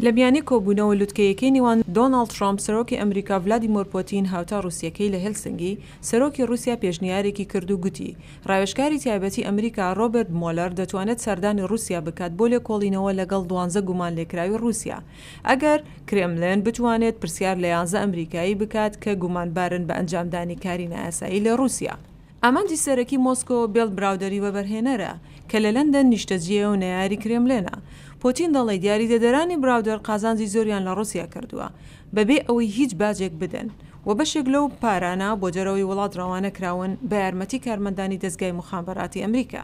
لە میانەی کۆبوونەوە لوتکەیەکەی نێوان دۆناڵد ترەمپ، سەرۆکی ئەمریکا ڤلادیمۆر پۆتین، هاوتا ڕووسییەکەی لە هێلسنگی، سەرۆکی ڕووسیا پێشنیارێکی کرد و گوتی، ڕاوێژکاری تایبەتی ئەمریکا ڕۆبەرت مۆلەر دەتوانێت سەردانی ڕووسیا بکات بۆ لێکۆڵینەوە لەگەڵ دوانزە گومانلێکراوی ڕووسیا، ئەگەر کرێملن بتوانێت پرسیار لە یانزە ئەمریکایی بکات کە گومانبارن بە ئەنجامدانی کاری نایاسایی لە ڕووسیا. ئامانجی سەرەکی مۆسکۆ بێڵ براودەری وەبەرهێنەرە، کە لە لەندەن نیشتەجێیە و نەیاری کرێملێنە. پۆتین دەڵیت یاریدەدەرانی براودەر قازانجی زۆریان لە ڕوسیا کردووە، بەبێ ئەوەی هیچ باجێک بدەن، و بەشێک لەو پارانە بۆ دەرەوەی وڵات ڕەوانە کراون بە یارمەتی کارمەندانی دەزگای موخابەراتی ئەمریکا.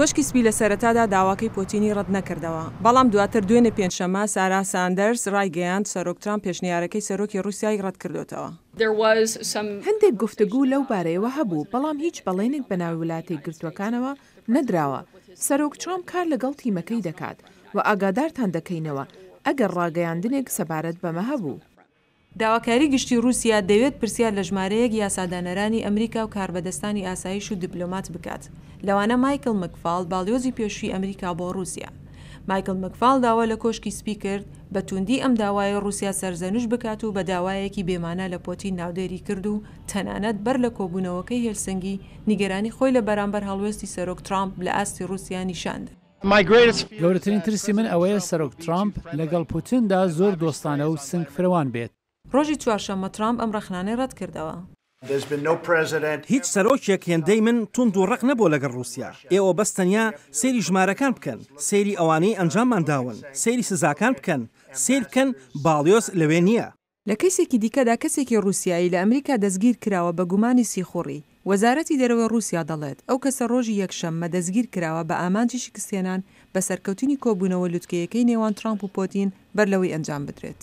کۆشکی سپی لە سەرەتادا داواکەی پۆتینی ڕەت نەکردەوە، بەڵام دواتر دوێنێ پێنجشەممە سارا ساندەرز ڕایگەیاند سەرۆک ترامپ پێشنیارەکەی سەرۆکی ڕووسیای ڕەت کردۆتەوە. هەندێک گفتگوو لەو بارەیەوە هەبوو، بەڵام هیچ بەڵێنێک بە ناوی ولاتە یەکگرتووەکانەوە نەدراوە. سەرۆک ترامپ کار لەگەڵ تیمەکەی دەکات و ئاگادارتان دەکەینەوە ئەگەر ڕاگەیاندنێک سەبارەت بەمە هەبوو. داواکاری گشتی ڕووسیا دەوێت پرسیار لە ژمارەیەک یاسادانەرانی ئەمریکا و کاربەدەستانی ئاسایش و دیپلۆمات بکات، لەوانە مایکڵ مکفال، باڵیۆزی پێشووی ئەمریکا بۆ ڕووسیا. مایکڵ مکفال داوا لە کۆشکی سپی کرد بە تووندی ئەم داوایەی ڕووسیا سەرزەنشت بکات و بە داوایەکی بێمانا لە پۆتین ناودێری کرد و تەنانەت بەر لە کۆبوونەوەکەی هێلسنگی نیگەرانی خۆی لە بەرامبەر هەڵوێستی سەرۆک ترامپ لە ئاستی ڕووسیا نیشان دا. گەورەترین ترسی من ئەوەیە سەرۆک ترامپ لەگەڵ پوتندا زۆر دۆستانە و سنگ فرەوان بێت. ڕۆژی چوارشەممە ترامپ ئەم ڕەخنانەی ڕەتکردەوە. هیچ سەرۆکێک هێندەی من توند و ڕەق نەبووە لەگەڵ ڕووسیا. ئێوە بەس تەنیا سەیری ژمارەکان بکەن، سەیری ئەوانەی ئەنجاممان داون، سەیری سزاکان بکەن، سەیر بکەن باڵیۆز لەوێ نییە. لە کەیسێکی دیکەدا کەسێکی ڕووسیایی لە ئەمریکا دەستگیرکراوە بە گومانی سیخوڕی، وەزارەتی دەرەوەی ڕووسیا دەڵێت، ئەو کەسە ڕۆژی یەکشەم مە دەستگیرکراوە بە ئامانجی شکستهێنان بە سەرکەوتنی کۆبوونەوە لوتکەیەکەی نێوان ترامپ و پۆتین بەرلەوەی ئەنجامبدرێت.